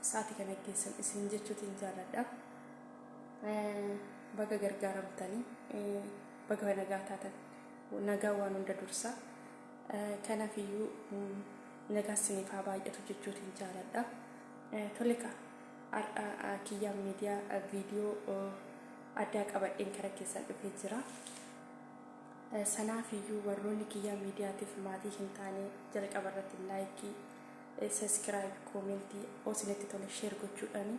sa'aati kana geessan isin jechuutiin jaaladha. Baga gargaaramtanii baga nagaa taatan nagaa waan hunda dursa. Kanaaf iyyuu nagaa isiniif haa baay'atu jechuutiin jaaladha. Tole kaa har'a kiyyaan miidiyaa viidiyoo addaa qabadheen kara keessan dhufee jira. Sanaaf iyyuu warroonni kiyyaa miidiyaatiif maatii hin taane jalqaba irratti laayikii Subscribe, comment, o isinitti tole share gochuudhaani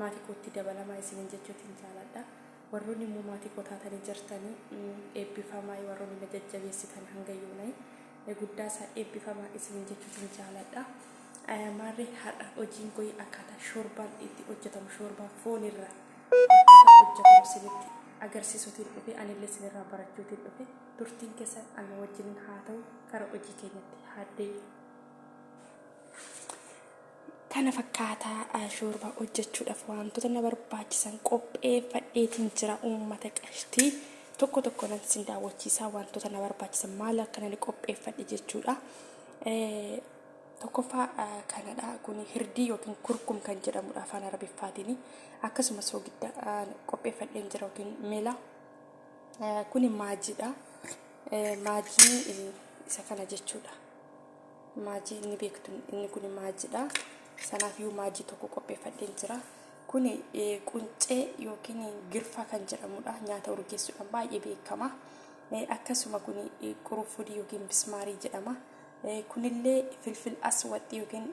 maatii kootti dabalamaa isiniin jechuutiin jaaladha. Warroonni immoo maatii koo taatanii jirtanii eebbifamaay warroonni na jajjabeessitan hanga yoonay guddaa isaa eebbifamaa isiniin jechuutiin jaaladha. Maarree har'a hojiin koo akkaataa shoorbaan itti hojjetamu shoorbaa foonirraa akkaataa hojjetamu isinitti agarsiisuutiin dhufe anillee isinirraa barachuutiin dhufe turtiin keessan ana wajjin haa ta'u gara hojii keenyatti haa deemu. kana fakkaataa shoorbaa hojjechuudhaaf wantoota na barbaachisan qopheeffadheetiin jira uummata qashtii tokko tokko nan sin daawwachiisaa wantoota na barbaachisan maal akka nan qopheeffadhe jechuudha. Tokkoffaa kanadha kun hirdii yookiin kurkum kan jedhamudha afaan arabiffaatiin akkasumas soogidda qopheeffadheen jira yookiin mela kun maajiidha maajii isa kana jechuudha. maajii inni beektu inni kun maajiidha sanaaf iyyuu maajii tokko qopheeffadheen jira kun quncee yookiin girfaa kan jedhamudha nyaata urgeessuudhaan baay'ee beekama akkasuma kun quruffudii yookiin bismaarii jedhama kunillee filfil aswaxxii yookiin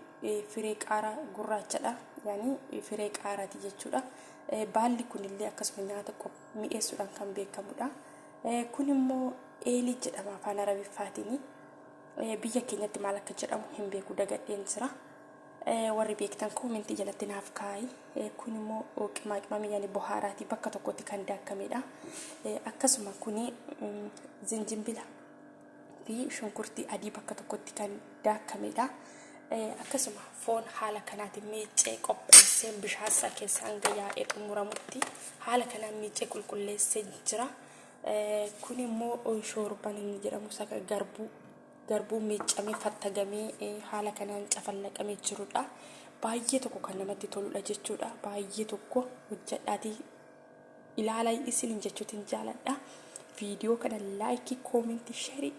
firee qaaraa gurraachadha yaani firee qaaraati jechuudha baalli kunillee akkasuma nyaata mi'eessuudhaan kan beekamudha kun immoo eelii jedhama afaan arabiffaatiin Biyya keenyatti maal akka jedhamu hin beeku dagadheen jira. Warri beektan koomentii jalatti naaf kaa'i. Kun immoo qimaa qimamii yani bohaaraati bakka tokkotti kan daakkamedha. Akkasuma kuni zinjimbila fi shunkurtii adii bakka tokkotti kan daakkamedha. Akkasuma foon haala kanaatiin miiccee qopheessee bishaan isaa keessa hanga yaa'ee xumuramutti haala kanaan miiccee qulqulleessee jira. Kun immoo shoorban inni jedhamu isa garbuu garbuu miiccamee fattagamee haala kanaan cafallaqamee jirudha. Baay'ee tokko kan namatti toludha jechuudha. Baay'ee tokko hojjedhaatii ilaala isin jechuutiin jaaladha. Viidiyoo kana laayikii, koomentii, sheerii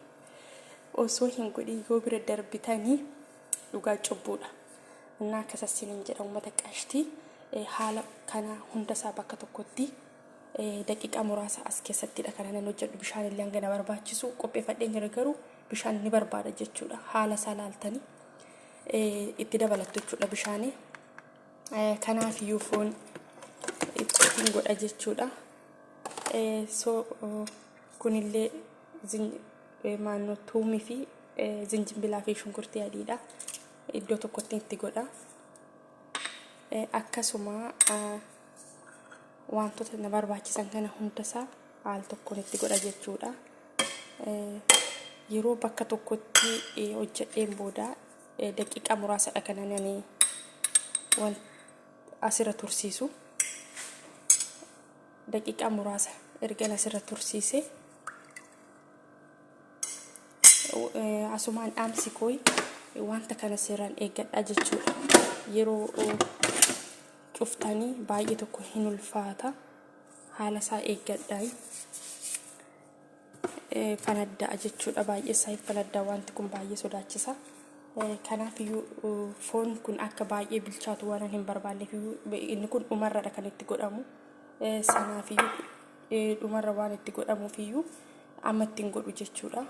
osoo hin godhin yoo bira darbitanii dhugaa cubbuudha. Innaa akkasas hin jedha uummata qashtii haala kana hundasaa bakka tokkotti Daqiiqaa muraasa as keessattidha kan anan hojjedhu bishaan illee hanga na barbaachisu qopheeffadheen jira garuu bishaan ni barbaada jechuudha haala isaa laaltanii itti dabalattu jechuudha bishaanii kanaaf iyyuu foon ittiin godha jechuudha so kunillee maannoo tuumii fi zinjimbilaa fi shunkurtii adiidha iddoo tokkotti itti godha akkasuma wantoota na barbaachisan kana hundasaa al tokkoon itti godha jechuudha. Yeroo bakka tokkotti hojjedheen booda daqiiqaa muraasadha kan ani waan asirra tursiisu. Daqiiqaa muraasa ergan asirra tursiise asumaan dhaamsi kooyi wanta kana seeraan eeggadhaa jechuudha. Yeroo cuftanii baay'ee tokko hin ulfaata haala isaa eeggadhaa fanadda'a jechuudha baay'ee isaa fanaddaa wanti kun baay'ee sodaachisa kanaaf iyyuu foon kun akka baay'ee bilchaatu waan hin barbaanneef inni kun dhumarradha kan itti godhamu sanaaf iyyuu dhumarra waan itti godhamuuf iyyuu amma ittiin godhu jechuudha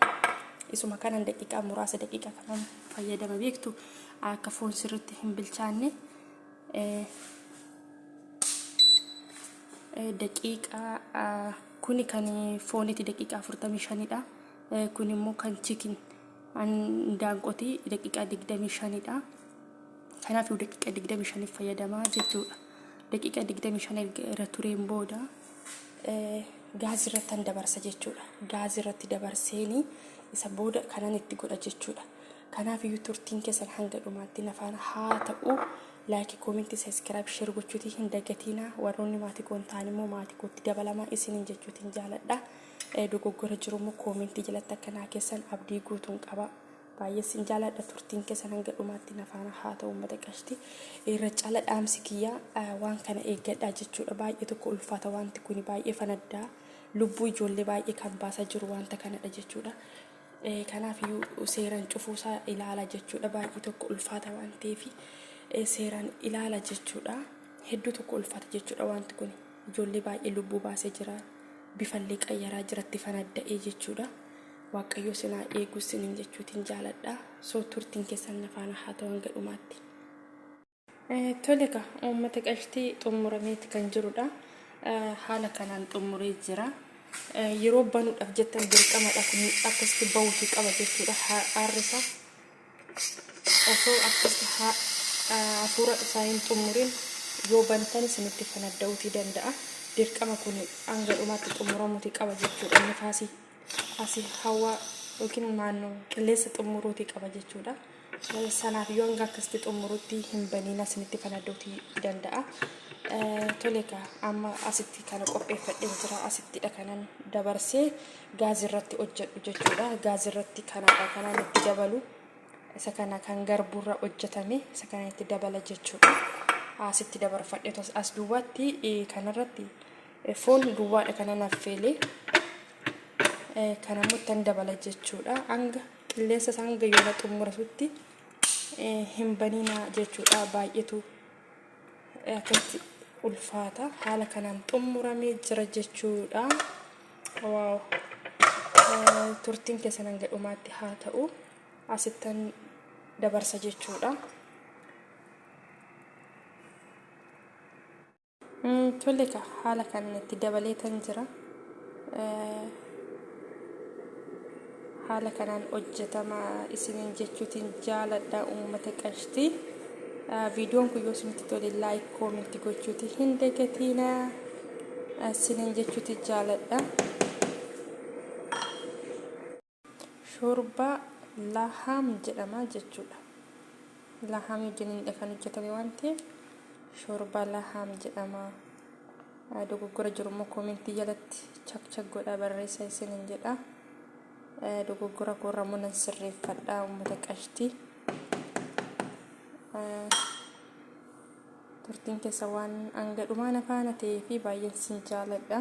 isuma kanan daqiiqaa muraasa daqiiqaa kanan fayyadama beektu akka foon sirriitti hin bilchaanne daqiiqaa kuni kan fooniiti daqiiqaa 45dha. Kun immoo kan chikin daanqotii daqiiqaa 25dha. Kanaaf daqiiqaa 25 fayyadamaa jechuudha. Daqiiqaa 25 irra tureen booda gaazii irratti kan dabarsa jechuudha. Gaazii irratti dabarseeni isa booda kanan itti godha jechuudha. Kanaaf iyyuu turtiin keessan hanga dhumaatti na faana haa ta'u. Like, comment, subscribe, share gochuutii hin dagatiinaa. Warroonni maatii koo hin taane immoo maatii kootti dabalamaa isiniin jechuutiin jaaladha. Eh, Dogoggora jiru immoo comment jalatti akka naa keessan abdii guutuun qaba. Baay'ee sin jaaladha turtiin keessan hanga dhumaatti na faana haa ta'u uummata qashti. Irra caala dhaamsi kiyyaa eh, waan kana eeggadhaa jechuudha. Baay'ee tokko ulfaata wanti kuni baay'ee fanaddaa. Lubbuu ijoollee baay'ee kan baasaa jiru wanta kanadha jechuudha. Kanaaf iyyuu seeran cufuu isaa ilaala jechuudha. Baay'ee tokko ulfaata waan ta'eef seeran ilaala jechuudha. Hedduu tokko ulfaata jechuudha wanti kun. Ijoollee baay'ee lubbuu baasee jira. Bifallee qayyaraa jiratti fanadda'ee jechuudha. Waaqayyoo sinaa eeguu sinin jechuutiin jaaladha. Soo turtiin keessan nafaana haa ta'u hanga dhumaatti. Tole egaa uummata qashtii xumurameeti kan jirudha. Haala kanaan xumuree jira. Yeroo banuudhaaf jettan dirqamadha kun akkasitti bahuufi qaba jechuudha. Aarrisa osoo akkasitti hafuura isaa hin xumurin yoo bantan isinitti fanadda'uutii danda'a. Dirqama kun hanga dhumaatti xumuramuutii qaba jechuudha. Nifaasii asii hawaa yookiin naannoo qilleensa xumuruutii qaba jechuudha. Sanaaf yoo hanga akkasitti xumurutti hin baniin asinitti fanaddootii danda'a. Tole egaa amma asitti kana qopheeffadheen jira asittidha kanan dabarsee gaazii irratti hojjedhu jechuudha. Gaazii irratti kanaadha kanaan itti dabalu. Isa kana kan garbuurra hojjetame isa kana itti dabala jechuudha. Asitti dabarfadhe as duwwaatti kanarratti foon duwwaadha kanan affeelee kanammoo ittan dabala jechuudha hanga qilleensa isaa hanga yoona xumurasutti hin baniina jechuudha baay'eetu akkatti ulfaata haala kanaan xumuramee jira jechuudha waaw turtiin keessan hanga dhumaatti haa ta'u asittan dabarsa jechuudha. Tole ka haala kan itti dabalee tan jira. Haala kanaan hojjetama isiniin jechuutiin jaaladha uummata qashtii. Viidiyoon kun yoo isinitti tole laayik koominti gochuuti hin dagatiina isiniin jechuuti jaaladha. Shoorbaa lahaam jedhama jechuudha. Lahaamii wajjiniinidha kan hojjetame waan ta'eef shoorbaa lahaam jedhama. Dogoggora jiru immoo koomentii jalatti chak chak godhaa barreessaa isiniin jedha. Dogoggora koorraa immoo nan sirreeffadha uummata qashtii. Turtiin keessa waan hanga dhumaa na faana ta'ee fi baay'een sin jaaladha.